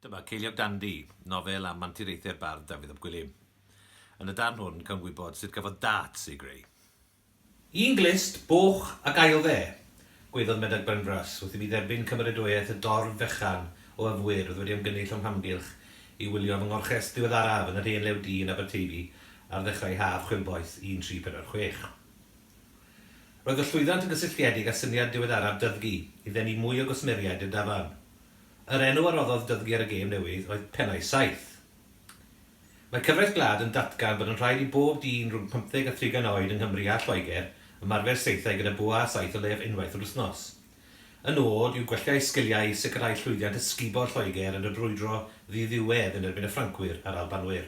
Dyma Ceiliog Dandy, nofel am anturiaethau'r bardd Dafydd ap Gwilym. Yn y darn hwn, cawn gwybod sut gafodd Darts ei greu. Yn glust, boch ac ael fe, gweiddodd Medog Benfras wrth i mi dderbyn cymeradwyaeth y dorf fechan o yfwyr oedd wedi ymgynnull o'm hamgylch i wylio fy ngorchest ddiweddaraf yn yr hen lew du yn Aberteifi ar ddechrau haf chwilboeth 1346. Roedd y llwyddant yn gysylltiedig â syniad diweddaraf Dyddgu i ddenu mwy o gwsmeriaid i'r dafarn. Yr enw a roddodd Dudley ar y gêm newydd oedd Pennau Saith. Mae cyfraith gwlad yn datgan bod yn rhaid i bob dyn rhwng pymtheg a thrigan oed yng Nghymru a Lloegr ymarfer saethau gyda bwa a saith o leiaf unwaith yr wythnos. Y nod yw gwella eu sgiliau i sicrhau llwyddiant ysgubol Lloegr yn y brwydro ddiddiwedd yn erbyn y Ffrancwyr a'r Albanwyr.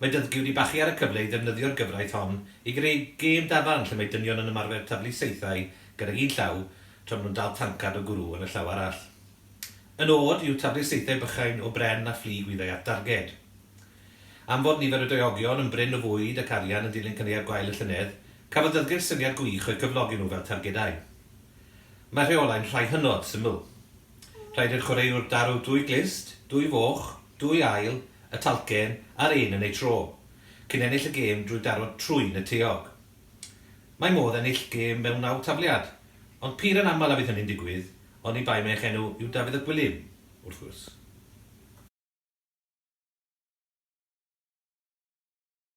Mae Dyddgu wedi bachu ar y cyfle i ddefnyddio'r gyfraith hon i greu gêm dafarn lle mae dynion yn ymarfer taflu saethau gydag un llaw tra maen nhw'n dal tancad o gwrw yn y llaw arall. Yn od yw taflu'r saethau bychain o bren a phlu gwyddai at darged. Am fod nifer y doeogion yn brin o fwyd ac arian yn dilyn caneuon gwael y llynedd, cafodd Dyddgu'r syniad gwych o'u cyflogi nhw fel targedau. Mae rheolau'n rhai hynod syml. Rhaid i'r chwaraewr daru dwy glust, dwy foch, dwy ail, y talcen a'r un yn eu tro, cyn ennill y gêm drwy daro trwyn y taeog. Mae modd ennill gêm mewn naw tafliad, ond pur yn aml a fydd hynny'n digwydd, oni bai mai eich enw yw Dafydd ap Gwilym, wrth gwrs.